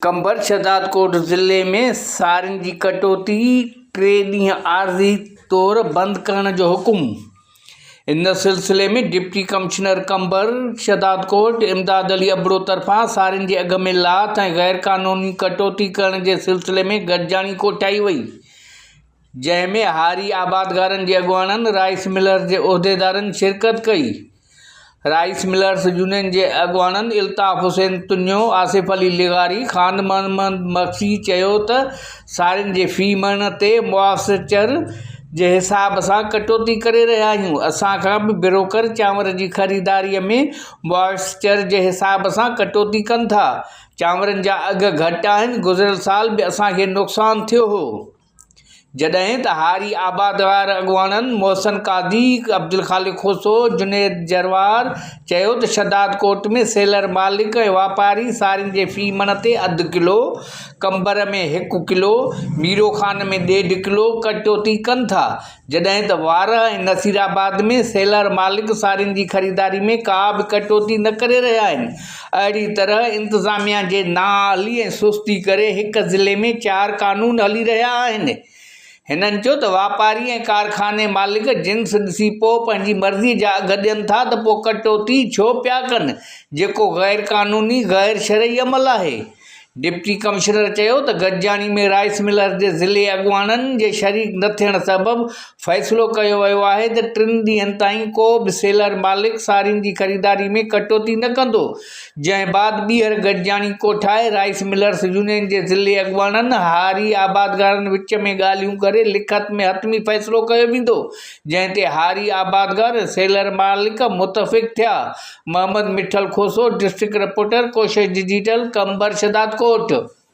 قمبر شهدادڪوٽ ضلعي ۾ سارين جي ڪٽوتي ٽي ڏينهن عارضي طور بند ڪرڻ جو حڪم ان سلسلي ۾ ڊپٽي ڪمشنر قمبر شهدادڪوٽ امداد علي ابڙو طرفان سارين جي اگهه ۾ لاٿ ۽ غيرقانوني ڪٽوتي ڪرڻ جي سلسلي ۾ گڏجاڻي ڪوٺائي وئي جنهن ۾ هاري آبادگارن جي اڳواڻن رائس ملرز جي عهديدارن شرڪت ڪئي. رائس ملرز يونين جي اڳواڻن الطاف حسين تنيو، آصف علي لغاري، خان محمد مگسي چيو ته سارين جي في مڻ تي مواسچر جي حساب سان ڪٽوتي ڪري رهيا آهيون، اسان کان به بروڪر چانور جي خريداري ۾ مواسچر جي حساب سان ڪٽوتي ڪن ٿا، چانورن جا اگهه گهٽ آهن، گذريل سال به اسان کي نقصان ٿيو هو. جڏهن ته هاري آباد وارن اڳواڻن محسن قاضي، عبدالخالق کوسو، جنيد جروار چيو ته شھداد ڪوٽ ۾ سيلر مالڪ ۽ واپاري سارين جي في مڻ تي اڌ ڪلو، قمبر ۾ هڪ ڪلو، ميرو خان ۾ ڏيڍ ڪلو ڪٽوتي ڪن ٿا. جڏهن ته وارهه ۽ نصيرآباد ۾ سيلر مالڪ سارين جي خريداري ۾ ڪا به ڪٽوتي نه ڪري رهيا آهن، اهڙي طرح انتظاميا جي نااهلي ۽ سستي ڪري هڪ ضلعي ۾ چار قانون هلي رهيا آهن. هنن چيو ته واپاري ۽ ڪارخاني مالڪ جنس ڏسي پوء پنهنجي مرضي جا اگهه ڏين ٿا ته پوء ڪٽوتي ڇو پيا ڪن جيڪو غيرقانوني غيرشرعي عمل آهي. ڊپٽي ڪمشنر چيو ته گڏجاڻي ۾ رائيس ملرز جي ضلعي اڳواڻن جي شريڪ نه ٿيڻ سبب فيصلو ڪيو ويو آهي ته ٽن ڏينهن تائين ڪو به سيلر مالڪ سارين جي خريداري ۾ ڪٽوتي نه ڪندو جنهن بعد ٻيهر گڏجاڻي ڪوٺائي رائيس ملرز يونين جي ضلعي اڳواڻن هاري آبادگارن وچ ۾ ڳالهيون ڪري لکت ۾ حتمي فيصلو ڪيو ويندو جنهن تي هاري آبادگار سيلر مالڪ متفق ٿيا. Muhammad Mithal Khoso, district reporter, Koshish digital, Qambar Shahdadkot.